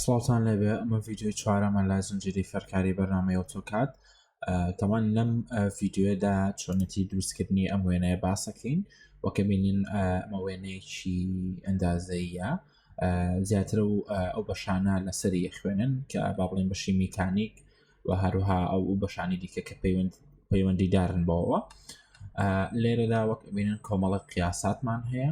سڵاوان لەبێ ئەمە ڤیددیوی چوارەمە لە زنجری فەرکاری بەرنمەیە تۆکات تەوان لەم ڤیددیوەدا چۆنەتی دروستکردنی ئەم وێنەیە باسەکەین وەکە بینین ئەمە وێنەیەکی ئەندازەیە زیاتر و ئەو بەشانە لەسەری خوێنن کە با بڵێن بەشی میکانیک و هەروها ئەو و بەشانی دیکە کە پەیوەند پەیوەندیدارن بەوە لێرەدا وەک بینن کۆمەڵە قیاساتمان هەیە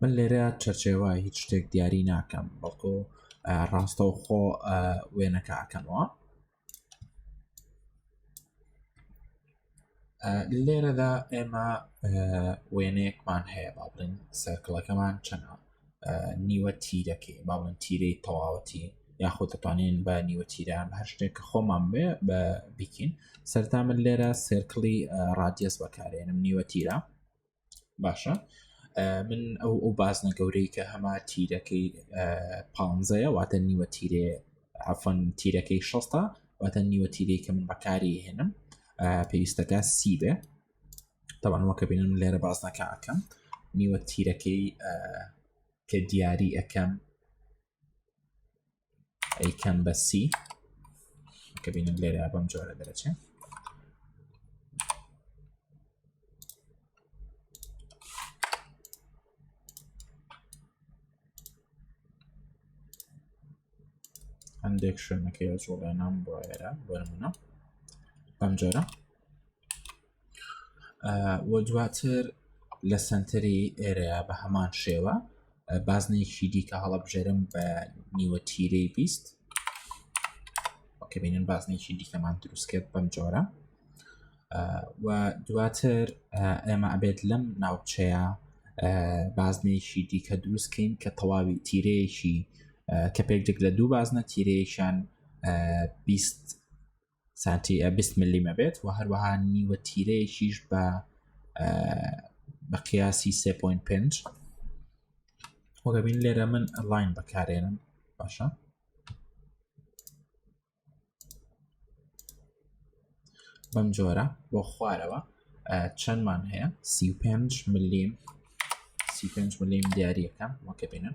من لێرە چەرچێوە هیچ شتێک دیاری ناکەم بەڵکو ڕاستە و خۆ وێنەکەکەمەوە لێرەدا ئێمە وێنەیەکمان هەیە با بڵین سەرکڵەکەمان چەنە نیوە تیرەکەی با بڵێن تیرەی تەواوەتی یاخۆ دەتوانین بە نیوە تیران هەر شتێک کە خۆمان بێ بە بیکین سەرتا من لێرە سێرکڵی ڕادیەس بەکارێنم نیوە تیرە باشە من ئەو ئەو بازنە گەورەی کە هەما تیرەکەی پانزەیە واتە نیوە تیرێ ئەفەن تیرەکەی شەستا واتە نیوە تیرەی کە من بەکاری هێنم پێویستەکە سی بێ تەوانەوەکە بینم لێرە بازنەکە ئەەکەم نیوە تیرەکەی کە دیاری ئەەکەم ئەیکەم بە سی کە بینم لێرە بەم جۆرە دەرەچێت هەندێک شوێنەکەی جوڵێنام بۆ ئێرە بەرمونە بەم جۆرە و دواتر لە سەنتەری ئێرەیا بە هەمان شێوە بازنێکی دیکە هەڵەبژێرم بە نیوە تیرەی بیست کە بینن بازنێکی دیکەمان دروست کرد بەم جۆرە و دواتر ئێمە ئەبێت لەم ناوچەیە بازنێکی دیکە دروستکەین کە تەواوی تیرەیەکی کە پێکێک لە دوو بازنە تیرەیەکیان بیست سانتی ە بیست مللیمە بێت و هەروەها نیوە تیرەیەکیش بە بە قیاسی سێ پوین پێنج وەگەبین لێرە من ئەلاین بەکارێنم باشە بەم جۆرە بۆ خوارەوە چەندمان هەیە سی پێنج ملیم سی پێنج ملیم دیارەکەم وەکە بینن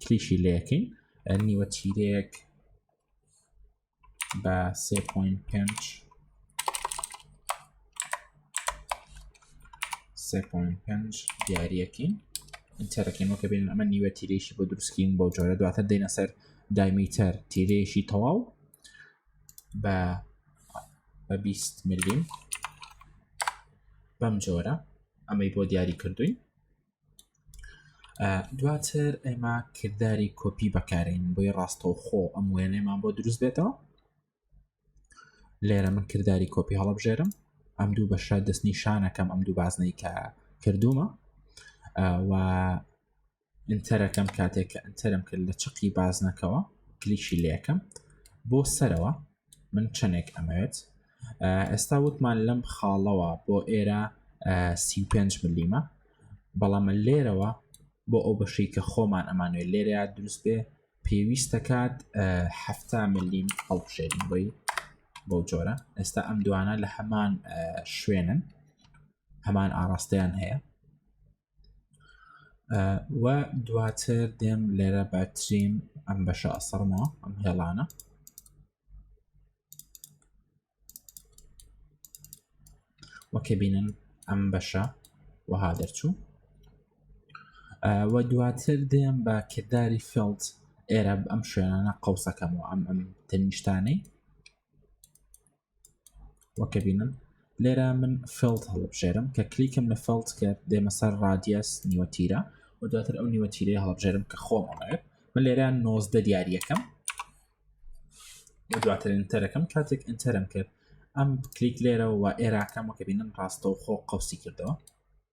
کلیکی لەکەین نیوە تیرەیەک بە 3.5 3.5 دیارەکەین تەرەکەین وەکە بێن ئەمە نیوە تیرێکی بۆ دروستکین بۆ جۆرە دواتە دێنە سەر دایمیتەر تیرێکی تەواو بە بە 20 ملیم بەم جۆرە ئەمەی بۆ دیاری کردوین دواتر ئێمە کردداری کۆپی بەکارین بۆی ڕاستەو خۆ ئەم وێنێمان بۆ دروست بێتەوە لێرە من کردداری کۆپی هەڵبژێرم ئەم دوو بەشە دەست نیشانەکەم ئەم دوو بازنەی کە کردومە و ئینتەرەکەم کاتێک کە ئەتەرم کرد لە چقی بازنەکەەوە کلیشی لەکەم بۆ سەرەوە من چەندێک ئەمەوێت ئێستا وتمان لەم خاڵەوە بۆ ئێرە 35 ملیمە بەڵام لێرەوە بۆ ئەو بەشەی کە خۆمان ئەمانوێت لێرە دروست بێ پێویست دەکات هەفتا ملیم هەڵبژێرین بۆی بۆ جۆرە ئێستا ئەم دوانە لە هەمان شوێنن هەمان ئاراستەیان هەیە و دواتر دێم لێرە باتریم ئەم بەشە ئەسەرمەوە ئەم هێڵانە وەکە بینن ئەم بەشە وەها دەرچوو وە دواتر دێم بە کردداری فلت ئێرە ئەم شوێنانە قوسەکەمەوە ئەم ئەم تەنیشتانەی وەکە بینن لێرە من فلت هەڵبژێرم کە کلیکم لە فلت کرد دێمە سەر ڕادیەس نیوەتیرە و دواتر ئەو نیوەتیرەی هەڵبژێرم کە خۆمەڵێت من لێرە نۆزدە دیارریەکەم دواتر ئینتەرەکەم کاتێک ئینتەرم کرد ئەم کلیک لێرەوە ئێراکەمەکە بینم ڕاستەوخۆ قوسی کردەوە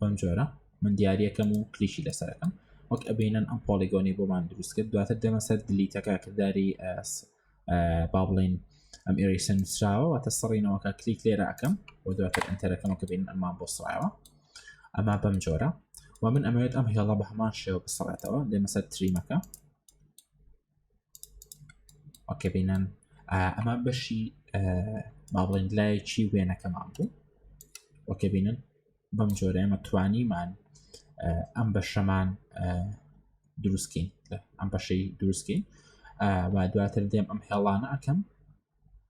بەم جۆرە من دیارەکەم و کلیشی لەسەرەکەم وەک ئەبینەن ئەم پۆلیگۆنی بۆمان دروست کرد دواتر دەمە سەر دلیتەکە کردداری ئەس با بڵین ئەم ئێریسن نووسراوە واتە سڕینەوەکە کلیک لێرە ئەەکەم و دواتر ئەتەرەکەمە کە بین ئەمان بۆ سڕایەوە ئەما بەم جۆرە و من ئەمەوێت ئەم هێڵە بە هەمان شێوە بسڕێتەوە دێمەسەر تریمەکە ئۆکێ بینەن ئەمە بەشی با بڵێن لایەکی وێنەکەمان بوو ئۆکێ بینن بەم جۆرە ئێمە توانیمان ئەم بەشەمان دروستکەین ئەم بەشەی دروستکەین و دواتر دێم ئەم هێڵانە ئەەکەم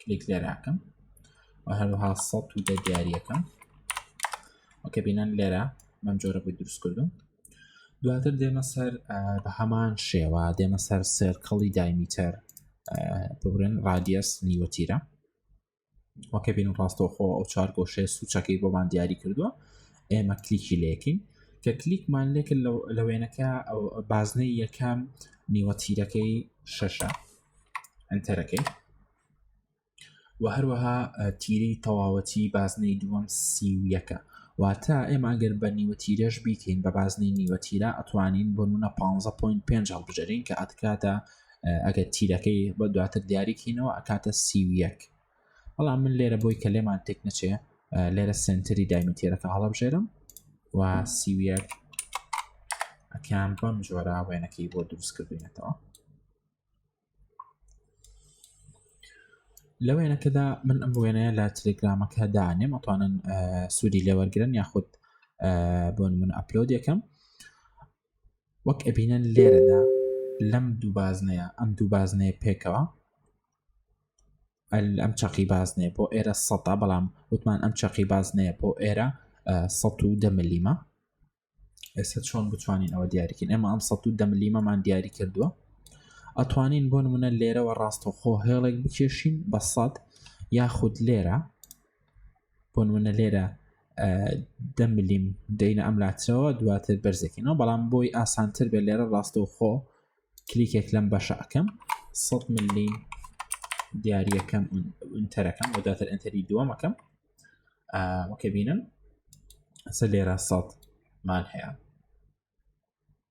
کلیک لێراکەم و هەروها سە و دە دیارەکەم وەکە بینەن لێرە من جۆرە بۆی دروست کردم دواتر دێمە سەر بە هەمان شێوە دێمە سەر سێرکەڵی دایمیتەر بگرن ڕادیەس نیوەتیرە وەکە بین ڕاستەوخۆ ئەو چار گۆشێ سوچەکەی بۆمان دیاری کردووە ئێمە کلیکی لەکەین کە کلیکمان لێکە لە وێنەکە بازنەی یەکەم نیوە تیرەکەی شەشە ئەتەرەکەی و هەروەها تیری تەواوەتی بازنەی دووەم سی و یەکە واتە ئێمە ئەگەر بە نیوە تیرەش بیکەین بە بازنەی نیوە تیرە ئەتوانین بۆ منە 15.5 هەڵبژێرین کە ئەتکاتە ئەگەر تیرەکەی بە دواتر دیاریکەینەوە ئەکاتە سیویەک بەڵام من لێرە بۆی کە لێمان تێک نەچێ لێرە سنتری دایمی تێرەکە هەڵبژێرم و سیویەک ئەکان بەم جۆرە وێنەکەی بۆ دروست کردوینەتەوە لە وێنەکەدا من ئەم وێنەیە لە تلگرامەکە دانێم ئەتوانن سوودی لێوەرگن یاخود بۆن من ئەپلۆد یەکەم وەک ئەبینەن لێرەدا لەم دوو بازنەیە ئەم دوو بازنەیە پێکەوە ئەم چەقی بازنێ بۆ ئێرە سەتا بەڵام وتمان ئەم چەقی بازنەیە بۆ ئێرە 110 ملیمە ئێستا چۆن بتوانین ئەوە دیاریکن ئێمە ئەم 110 ملیمەمان دیاری کردووە ئەتوانین بۆ نمونە لێرەوە ڕاستەخۆ هێڵێک بکێشین بە سەد یاخود لێرە بۆ نمونە لێرە دە ملیم دەینە ئەم لاترەوە دواتر بەرزەکەینەوە بەڵام بۆی ئاسانتر بێت لێرە ڕاستە خۆ کلیکێک لەم بەشەکەم 100 ملیم دیارریەکەم ئینتەرەکەم و داتر ئەتەری دووەمەکەم وەکە بینم سە لێرە سەد مان هەیە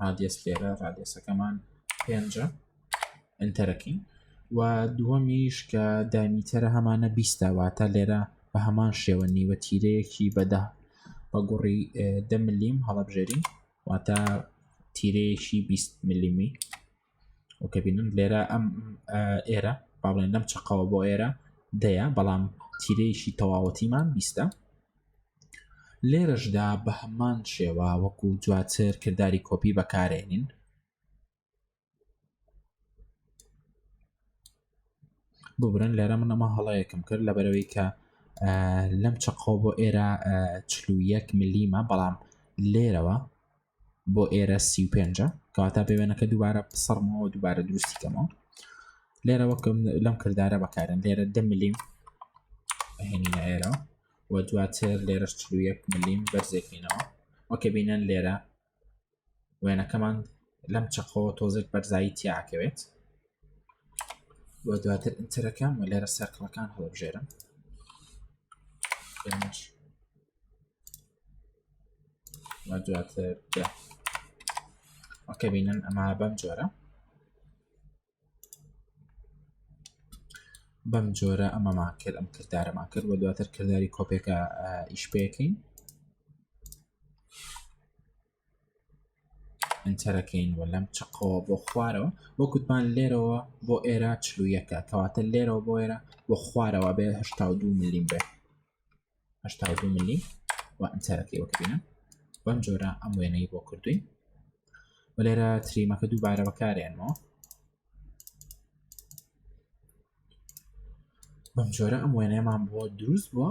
ڕادێس لێرە ڕادێسەکەمان پێنجە ئەتەرەکەین و دووەمیش کە دامیتەرە هەمانە بیستاواتە لێرە بە هەمان شێوە نیوە تیرەیەکی بەدا بە گوڕی دە ملیم هەڵبژێری واتە تیرەیەکی 20 ملیمی و کە بینن لێرە ئەم ئێرە با بڵێن لەم چقەوە بۆ ئێرە دەیە بەڵام تیرەیەکی تەواوەتیمان بیستە لێرەشدا بە هەمان شێوە وەکو دواتر کردداری کۆپی بەکارێنین ببرن لێرە منەمە هەڵەیەکم کرد لە بەرەوەی کە لەم چقۆ بۆ ئێرە چلوویەک ملیمە بەڵام لێرەوە بۆ ئێرە سی و پێنجە کەواتا بە وێنەکە دووبارە سەرمەوە دووبارە دروستی کەمەوە لێرە وەکەم لەم کردارە بەکارن لێرە دە ملیم هێنی ئێرە و دواتر لێرە چلوەک ملیم بەرزێکینەوە وەکە بینەن لێرە وێنەکەمان لەم چەقەوە تۆزێک بەرزایی تیاکەوێت بۆ دواتر ئینترەکەم و لێرە سەرکڵەکان هەڵبژێرم و دواتر دە ئۆکە بینن ئەما بەم جۆرە بەم جۆرە ئەمەمان کرد ئەم کردارەمان کرد و دواتر کردداری کۆپێکە ئیش پێکەین ئینتەرەکەین وە لەم چقەوە بۆ خوارەوە بۆ کوتمان لێرەوە بۆ ئێرە چلوویەکە کەواتە لێرەوە بۆ ئێرە بۆ خوارەوە بێ هشتا دو ملیم بێ هشتا دو ملی و ئینتەرەکەی وەکبینە بەم جۆرە ئەم وێنەی بۆ کردوین و لێرە تریمەکە دووبارە بەکارێنەوە بەم جۆرە ئەم وێنەیەمان بۆ دروست بووە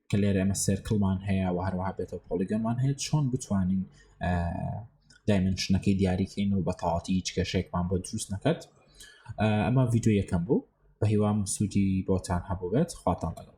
کە لێرە ئەمە سێرکڵمان هەیە و هەروەها بێتەوە پۆلیگەمان هەیە چۆن بتوانین دایمنشنەکەی دیاریکەین و بەتەواتی هیچ کێشێکمان بۆ دروست نەکەت ئەمە ڤیددیو یەکەم بوو بە هیوام سوودی بۆتان هەبووێت خواتان لەگەڵ